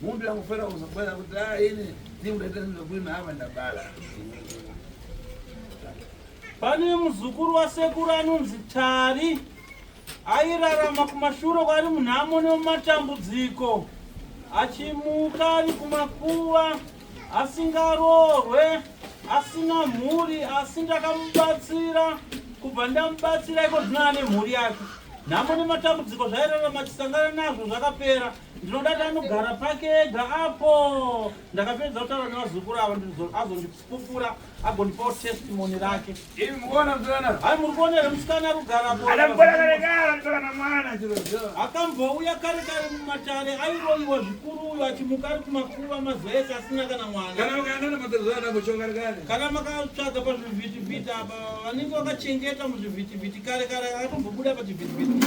Mundu yakufera kuzobara kuti ah ini ndikudaita ndokuina hava ndabara. Pane muzukuru wasekuru anonzi Tari airarama kumashuro kwari munhamo nemumatambudziko achimuka ari kumakuva asingaroorwe asina mhuri asi ndakamubatsira kubva ndamubatsira iko zvino ane mhuri yake nhamo nematambudziko zvairarama chisangana nazvo zvakapera Ndinoda tanogara pake ega apo. Ndakapedza kutaura nevazukuru avo azondipupura agondipawo testimony rake. Imi mukuona msikana? Hayi muri kuona here musikana ari kugara apo? Akamboda kare kare anotaka na mwana chero chero. Akambouya kare kare mumatare airoiwa zvikuru uyo achimuka ari kumakuva mazuva ese asina kana mwana. Kana ukaenda nematezo ana kucho kare kare. Kana makatsvaga pazvivhiti vhiti apa vanenge vakachengeta muzvivhiti vhiti kare kare akatombobuda pachivhiti vhiti.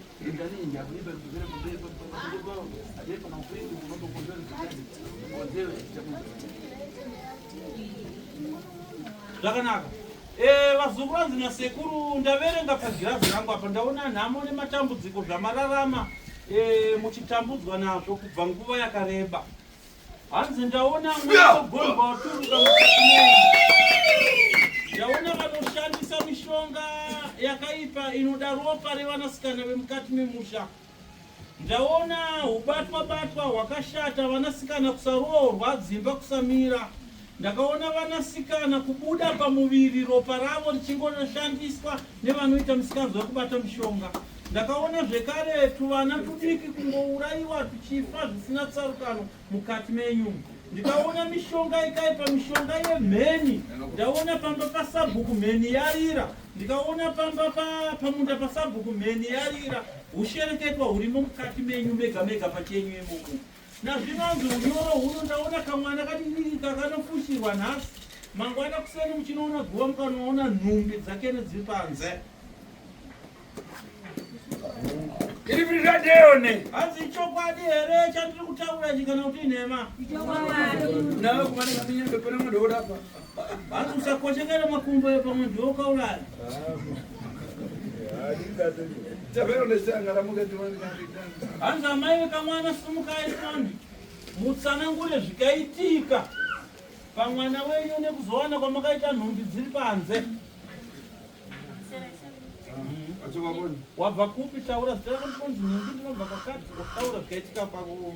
zvakanaka eh, vazukuru vanzi nasekuru ndaverenga pagirazi rangu apa ndaona nhamo nematambudziko zvamararama eh, muchitambudzwa nazvo kubva nguva yakareba Hanzi ndaona mweya wegomba waturuka mukati menyu. Ndaona vanoshandisa mishonga yakaipa inoda ropa revanasikana vemukati memusha. Ndaona hubatwa batwa hwakashata vanasikana kusaroorwa dzimba kusamira. Ndakaona vanasikana kubuda pamuviri ropa ravo richingonoshandiswa nevanoita misikanzwa yekubata mishonga. Ndakaona zvekare tuvana tudiki kungourayiwa tuchifa zvisina tsarukano mukati menyu. Ndikaona mishonga ikaipa, mishonga yemheni. Ndaona pamba pasabhuku mheni yarira. Ndikaona pamba pa, pamunda pasabhuku mheni yarira. Hushereketwa hurimo mukati menyu mega mega pachenyu imomo. Nazvinonzi unyoro huno ndaona kamwana kadidika kanofushirwa nhasi mangwana kuseni muchinoona guva mukanoona nhumbi dzakene dziri panze iri viri radeyone hanzi ichokwadi here chandiri kutaura chikana kuti inhema nawe kumanekaminyaepona mudhokodapa Batu usakoshekere makumbo epamwe ndiwo ukauraya. Hanzi amai vekamwana simukai foni mutsanangure zvikaitika pamwana wenyu nekuzowana kwamakaita nhumbi dziri panze. Wabva kupi taura zita rako ndikonzi nhumbi ndinobva kwakati wataura zvikaitika kwako.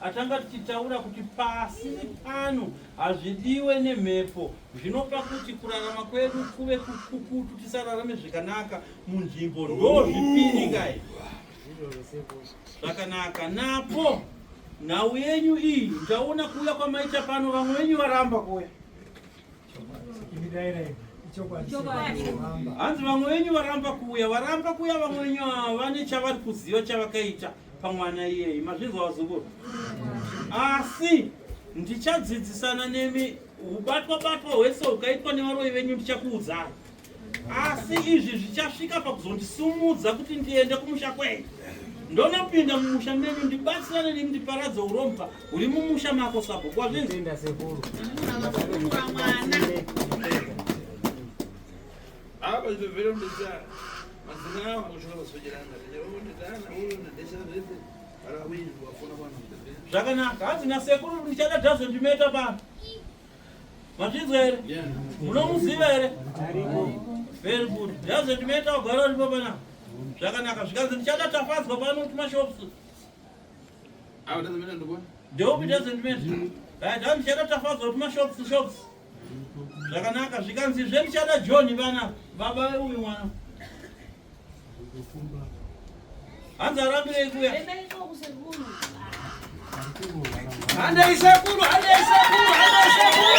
Atanga tichitaura kuti pasi pano hazvidiwe nemhepo zvinopa kuti kurarama kwedu kuve kukukutu tisararame zvakanaka munzvimbo ndozvipiri kai zvakanaka napo nhau yenyu iyi ndaona kuuya kwamaita pano vamwe venyu varamba kuya hanzi vamwe venyu varamba kuuya varamba kuuya vamwe venyu vane chavari kuziva chavakaita pamwana iyeyi mazvinzwa vazukuru asi ndichadzidzisana nemi ubatwa batwa hwese hukaitwa nevaroyi venyu ndichakuudzai asi izvi zvichasvika pakuzondisumudza kuti ndiende kumusha kwenyu ndonopinda mumusha menyu ndibatsirane nemi ndiparadze urombwa huri mumusha mako sabhuku wazvinzinda sekuru apa zviviro ndisa mazina angu zvaka vasojerana nditana uyu ndadesha zvese varawini wafuna kwana zvakanaka hanzi nasekuru ndichada dhazondimeta pano Mazvinzwa here? Munomuziva here? Very good. Doesn't matter wagara uripo pana. Zvakanaka. Zvikanzi ndichada tafadzwa pano kuma shops. Awo doesn't matter ndobona. Dope doesn't matter. Right, doesn't matter tafadzwa kuma shops shops. Zvakanaka. Zvikanzi zve ndichada John pana. Baba uyu mwana. Hanzi arambirei kuya. Handei sekuru, handei sekuru, handei sekuru.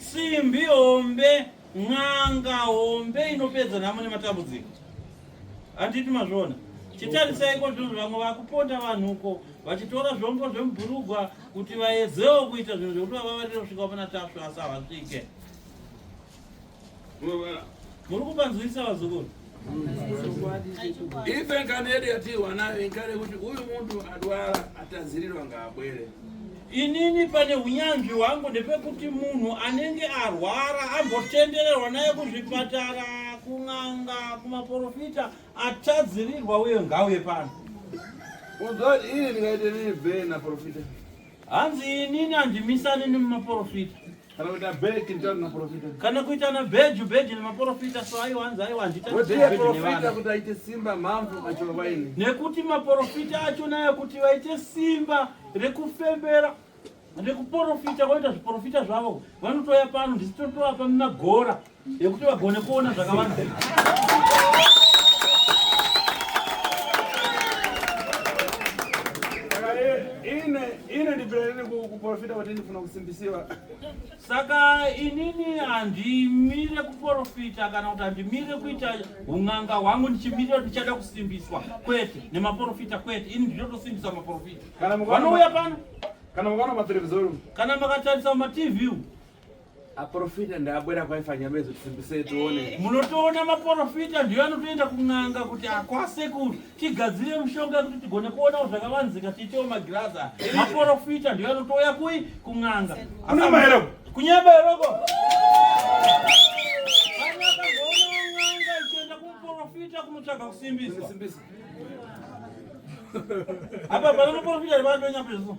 Simbi hombe, n'anga hombe inopedza nhamo nematambudziko. Handiti mazviona? chitarisaiko zvinhu vamwe vakuponda vanhu uko vachitora zvombo zvemubhurugwa kuti vaedzewo kuita zvinhu zvekuti vavavarire kusvika pana tasvu asi havasvike muri kupanzwisa vazukuru ife ngano yedu yatiwa nayo inkare kuti uyu munhu adwara atadzirirwa ngaabwere inini pane unyanzvi hwangu ndepekuti munhu anenge arwara ambotendererwa naye kuzvipatara kun'anga kumaporofita atadzirirwa uye ngauye pano uzoti ini ndingaite nini bhee naporofita hanzi inini handimisani nemumaporofita kana kuita bhegi nditani naprofita kana kuita na bhegi bhegi nemaprofita so aiwa hanzi aiwa handitaprofita kuti aite simba mhamvu acho vaine nekuti maprofita acho nayo kuti vaite simba rekufembera nekuporofita voita zviporofita zvavo vanotouya pano ndisitotoapa mumagora yekuti vagone kuona zvakawanda kuporofita kuti ndifuna kusimbisiwa saka inini handimire kuporofita kana kuti handimire kuita un'anga hwangu ndichimirira ndichada kusimbiswa kwete nemaporofita kwete ini ndinotosimbisa maporofita vanouya pano kana mukaona materevizori kana makatarisa matv Aprofita ndaabwera kwaifanya mezo tisimbise tione. Eh. Munotoona maprofita ndiyo anotoenda kun'anga kuti akwase kuti tigadzire mushonga kuti tigone kuona zvakavanzika tiitewo magirazi. Maprofita ndiyo anotouya kui kun'anga. Kuna maero. Kunyeba eroko. Profita kunotsvaga kusimbisa. Apa panoprofita vari vanonyapezvo.